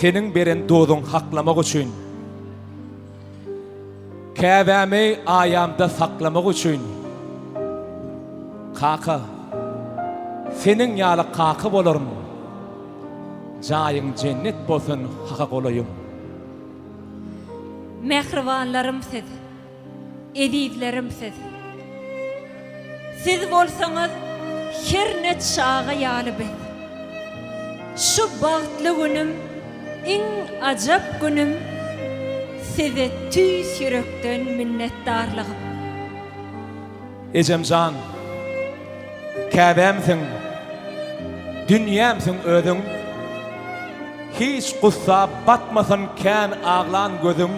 Seniň beren dozuň haklamak üçin, Käbämi aýamda saklamak üçin, Kaka, seniň ýaly kaka bolaryn, Jaýyň jennet bolsun haka golaýym. Mähribanlarym siz. Ezizlerim siz. Siz bolsaňyz her ne çaga ýaly biz. Şu bagtly günüm iň ajap günüm size tüýs ýürekden minnetdarlygym. Ejemjan Käbämsiň dünýämsiň özüň Hiç gussa batmasyn kän aglan gözüň.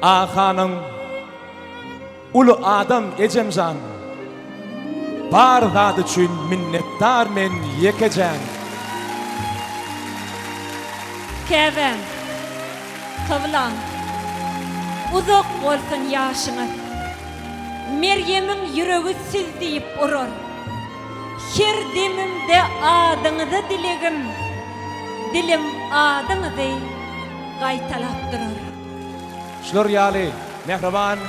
Ahanyň uly adam ejemjan bar zady üçin minnetdar men ýekejen. Käbäm, kyblam, uzak bolsun ýaşyňyz! Merýemiň ýüregi siz diýip urar. Her demimde adyňyzy dilegim, dilim adyňyzy. gaýtalap durar. Şular ýaly mähriban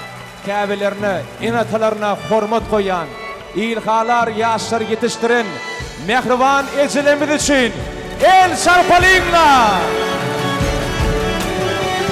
käbelerine, ene-atalaryna hormat goýýan, ilhalar ýaşlary ýetişdiren mähriban ejelerimiz üçin el çarpalyňlar!